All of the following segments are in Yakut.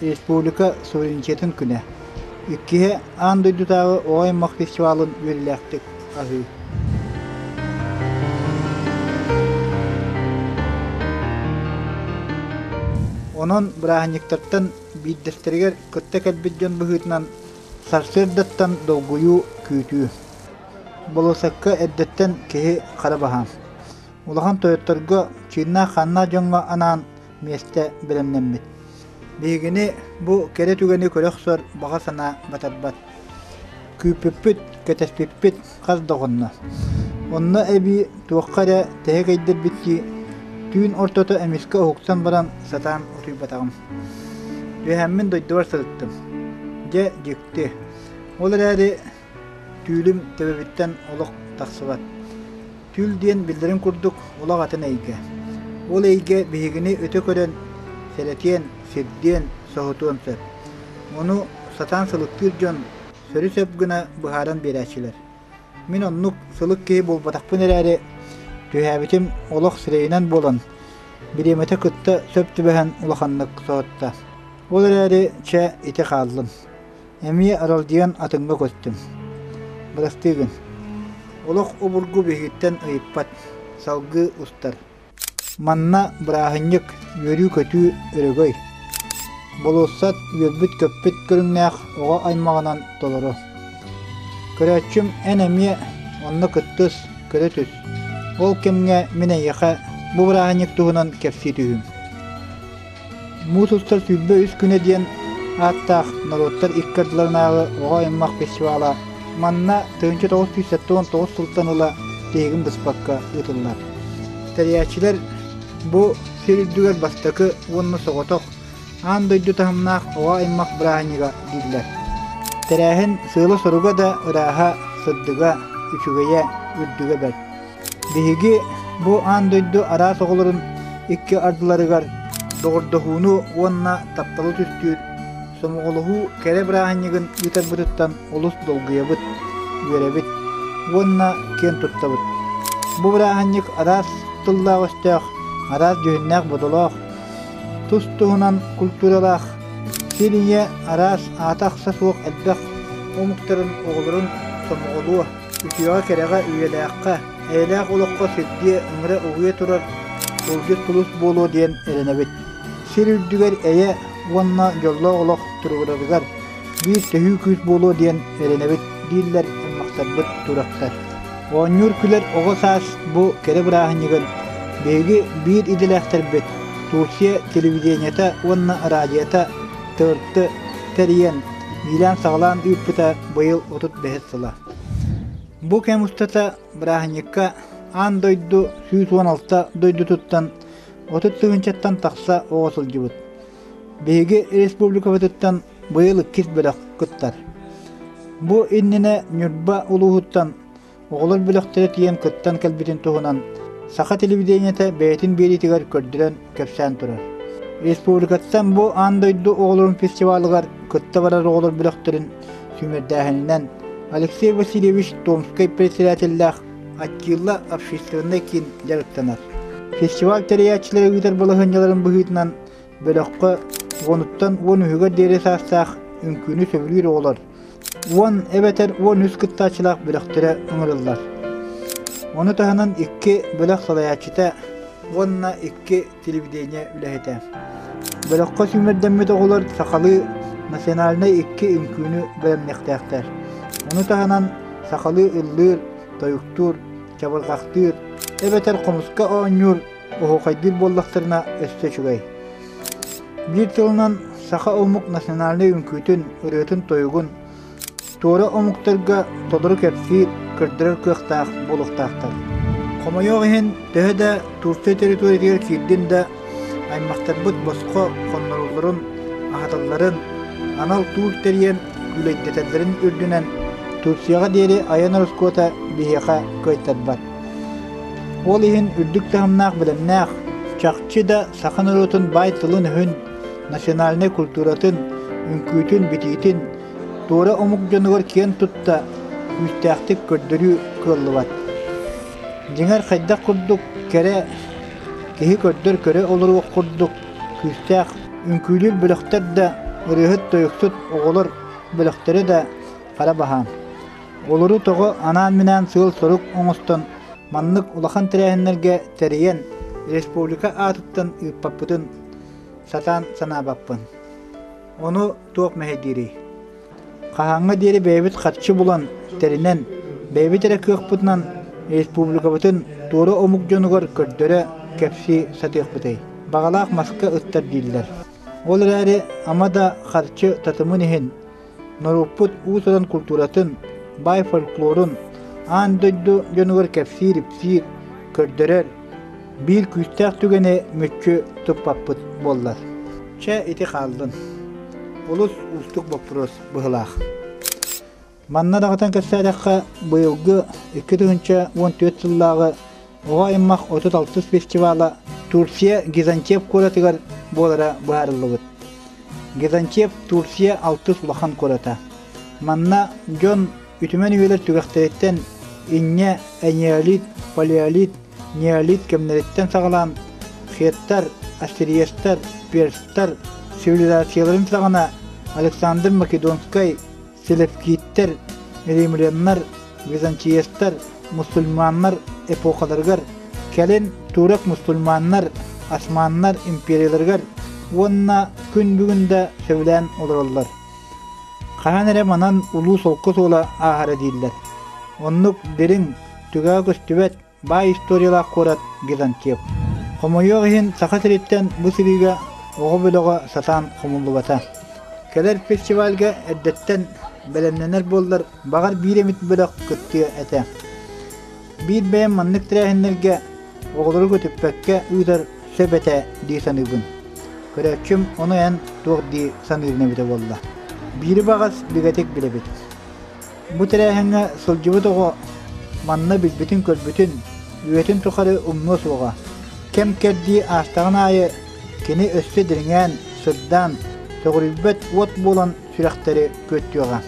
Республика суверенитетын күнэ. Иккиһэ аан дойдутааҕы Оҕо аймах фестивалын үөрүүлээхтик аһыы. Онон бырааһынньыктартан биирдэстэригэр кытта кэлбит дьон быһыытынан сарсыардаттан долгуйуу, күүтүү. Болосокко эрдэттэн киһи хара баһаам. Улахан тойотторго, чыыннаах-ханнаах дьоҥҥо анаан миэстэ бэлэмнэммит. Биһигини бу кэрэ түгэни көрө охсор баҕа санаа батарбат. Күүппүппүт, кэтэспиппит хас да оҕонно. Онно эбии туохха эрэ тэһэ кэйдэрбит дии, түүн ортото эмискэ уһуксан баран сатаан утуйбатаҕым. Үөһэммин дойдубар сырыттым. Дьэ, дьикти. Ол эрээри Түүлүм төбөбүттэн олох тахсыбат. Түүл диэн биллэрин курдук олох атын эйгэ. Ол эйгэ биһигини өтө көрөн, сэрэтиэн, сирдиэн, соһутуон сөп. Ону сатаан сылыктыыр дьон сөрү сөп гына быһааран биэрээччилэр. Мин оннук сылык киһи буолбатахпын эрээри, түһээбитим олох сирэйинэн буолан, бириэмэтэ кытта сөп түбэһэн улаханнык соһутта. Ол эрээри, чэ, ити хааллын. Эмиэ аралдьыйан атыҥҥа көттүм. Бырастыы гын. Олох обургу биһигиттэн ыйыппат, салгыы устар. Манна бырааһынньык, үөрүү-көтүү өрөгөй. Болуоссат үөрбүт-көппүт көрүҥнээх оҕо аймаҕынан толоро. Көрөөччүм эн эмиэ онно кыттыс, көрө түс. Ол кэмҥэ мин эйиэхэ бу бырааһынньык туһунан кэпсии түһүм. Муус устар сүүрбэ үс күнэ диэн ааттаах норуоттар икки ардыларынааҕы оҕо аймах фестивала манна тыһыынча тоҕус сүүс сэттис тоҕус сылтан ыла тиһигин быспакка ыытыллар. Тэрийээччилэр бу сир үрдүгэр бастакы уонна соҕотох аан дойду таһымнаах оҕо аймах бырааһынньыга дииллэр. Тэрээһин сыала-соруга да, ырааһа, сырдыга, үчүгэйэ, үрдүгэ бэрт. Биһиги бу аан дойду араас оҕолорун икки ардыларыгар доҕордоһууну уонна тапталы түстүүр сомоҕолоһуу кэрэ бырааһынньыгын ыытарбытыттан олус долгуйабыт, үөрэбит уонна киэн туттабыт. Бу бырааһынньык араас тыллаах-өстөөх, араас дьүһүннээх-бодолоох, тус-туһунан культуралаах, сир ийэ араас аата-ахса суох элбэх омуктарын оҕолорун сомоҕолуо, Үтүөҕэ-кэрэҕэ, үйэлээххэ, эйэлээх олоххо сирдиэ, ыҥыра угуйа турар тылгыт тулус буолуо диэн эрэнэбит. Сир үрдүгэр эйэ уонна дьоллоох олох туруорарыгар биир төһүү күүс буолуо диэн эрэнэбит, дииллэр аймахтарбыт туурактар. Оонньуур күлэр оҕо саас бу кэрэ бырааһынньыгын биһиги биир идэлээхтэрбит Турция телевидениета уонна араадьыйата тыҕырты тэрийэн, иилээн-саҕалаан ыыппыта быйыл отут бэһис сыла. Бу кэм устата бырааһынньыкка аан дойду сүүс уон алта дойдутуттан отут тыһыынчаттан тахса оҕо сылдьыбыт. Биһиги республикабытыттан быйыл иккис бөлөх кыттар. Бу иннинэ Ньурба улууһуттан Оҕолор бөлөхтөрө тиийэн кыттан кэлбитин туһунан саха телевидениета бэйэтин биэриитигэр көрдөрөн кэпсээн турар. Республикаттан бу аан дойду оҕолорун фестивалыгар кытта барар оҕолор бөлөхтөрүн сүүмэрдээһининэн Алексей Васильевич Томскай председателлээх Аттила общественнай киин дьарыктанар. Фестиваль тэрийээччилэрэ ыытар балаһыанньаларын быһыытынан бөлөххө уонуттан уон үһүгэр диэри саастаах үҥкүүнү сөбүлүүр оҕолор уон эбэтэр уон үс кыттааччылаах бөлөхтөрө ыҥырыллар. Ону таһынан икки бөлөх салайааччыта уонна икки телевидение үлэһитэ. Бөлөххө сүүмэрдэммит оҕолор сахалыы национальнай икки үҥкүүнү бэлэмниэхтээхтэр. Ону таһынан сахалыы ыллыыр, тойуктуур, чабырҕахтыыр эбэтэр хомуска оонньуур Оһуохайдыыр буоллахтарына өссө үчүгэй. Биир тылынан, саха омук национальнай үҥкүүтүн, ырыатын-тойугун туора омуктарга толору кэпсиир, көрдөрөр кыахтаах буолуохтаахтар. Хомойуох иһин, төһө да Турция территориятыгар киирдин да, аймахтарбыт босхо хоннорулларын, аһаталларын, анал туул тэрийэн күүлэйдэтэллэрин үрдүнэн Турцияҕа диэри айан ороскуота биһиэхэ кыайтарбат. Ол иһин үрдүк таһымнаах бэлэмнээх, чахчы да саха норуотун баай тылын-өһүн, национальнай культуратын, үҥкүүтүн, битиитин туора омук дьонугар киэн тутта күүстээхтик көрдөрүү кыаллыбат. Дьиҥэр, хайдах курдук кэрэ киһи көрдөр-көрө олоруох курдук күүстээх үҥкүүлүүр бөлөхтөр да, ырыаһыт-тойуксут оҕолор бөлөхтөрө да хара баһаам. Олору тоҕо анаан-минээн сыал-сорук оҥостон, маннык улахан тэрээһиннэргэ тэрийэн, республика аатыттан ыыппаппытын сатаан санаабаппын. Ону туох мэһэй диирий? Хаһааҥҥа диэри бэйэбит харчы булан, тэринэн, бэйэбит эрэ кыахпытынан республикабытын туора омук дьонугар көрдөрө, кэпсии сатыахпытый? Баҕалаах маска ыстар дииллэр. Ол эрээри ама да харчы татымын иһин, норуоппут уус-уран култууратын, баай фольклорун аан дойду дьонугар кэпсиир-ипсиир, көрдөрөр биир күүстээх түгэни мүччү туппаппыт буоллар. Чэ, ити хааллын. Олус уустук боппуруос быһылаах. Манна даҕатан кэпсээтэххэ, быйылгы 2 тыһыынча уон түөрт сыллааҕы Оҕо аймах 30-60 фестивала Турция Гизантеп куоратыгар буолара быһаарыллыбыт. Гизантеп Турция алтыс улахан куората. Манна дьон үтүмэн үйэлэр түгэхтэриттэн инньэ энеолит, палеолит, неолит кэмнэриттэн саҕалаан хеттар, ассириецтар, перстар цивилизацияларын саҕана Александр Македонскай Селевкиттэр, римляннар, византиецтар мусульманнар эпохаларыгар, кэлин турок мусульманнар, османнар империяларыгар уонна күн бүгүндэ сөбүлээн олороллор. Хаһан эрэ манан улуу солко суола ааһара дииллэр. Оннук дириҥ, түгэҕэ көстүбэт Баай историялаах куорат Византиев. Хомойуох иһин, Саха сириттэн бу сырыыга оҕо бөлөҕө сатаан хомуллубата. Кэлэр фестивальга эрдэттэн бэлэмнэнэр буоллар, баҕар биир эмит бөлөх кыттыа этэ. Биир бэйэм маннык тэрээһиннэргэ оҕолору көтүппэккэ ыытар сөп этэ дии саныыбын. Көрөөччүм ону эн туох дии саныырын эбитэ буолла. Биири баҕас бигэтик билэбит. Бу тэрээһиҥҥэ сылдьыбыт оҕо манна билбитин-көрбүтүн, үйэтин тухары умнуо суоҕа. Кэм-кэрдии аастаҕын аайы кини өссө дириҥээн, сырдаан, сөҕүрүйбэт уот буолан сүрэхтэри күөттүөҕэ.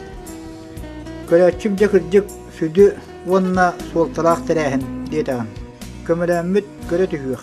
Көрөөччүм дьэ кырдьык сүдү уонна суолталаах тэрээһин диэтэҕим. Көмөлөммүт көрө түһүөх.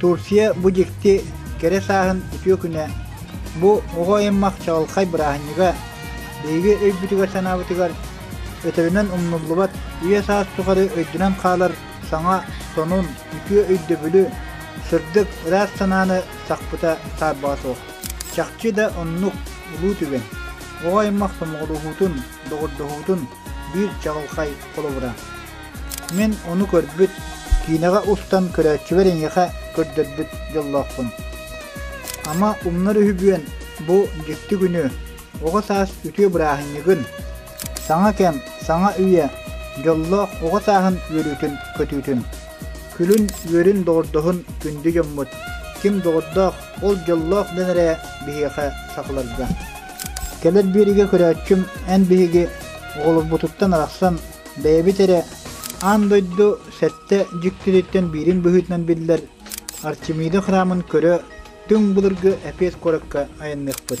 Турция бу дьикти кэрэ сааһын үтүө күнэ, бу оҕо аймах чаҕылхай бырааһынньыга, биһиги өйбүтүгэр-санаабытыгар өтөрүнэн умнуллубат үйэ-саас тухары өйдөнөн хаалар саҥа сонун, үтүө өйдөбүлү, сырдык, ыраас санааны сахпыта саарбаҕа суох. Чахчы да оннук улуу түгэн. оҕо аймах сомоҕолоһуутун, доҕордоһуутун биир чаҕылхай холобура. Мин ону көрбүт, киинэҕэ устан көрөөччүбэр эйиэхэ көрдөрбүт дьоллоохпун. Ама умнар үһүбүөн бу дьикти күнү, оҕо саас үтүө бырааһынньыгын, саҥа кэм, саҥа үйэ, дьоллоох оҕо сааһын үөрүүтүн көтүүтүн. Күлүн үөрүн доҕордоһун күндү дьоммут, ким доҕордоох, Ол дьоллоох дьон эрэ биһиэхэ сахаларга. Кэлэр биэригэ көрөөччүм эн биһиги оҕолорбутуттан арахсан бэйэбит эрэ аан дойду сэттэ дьиктититтэн биирин быһыытынан биллэр Арчимида храмын көрө түҥ былыргы эпиэт куоракка айанныахпыт.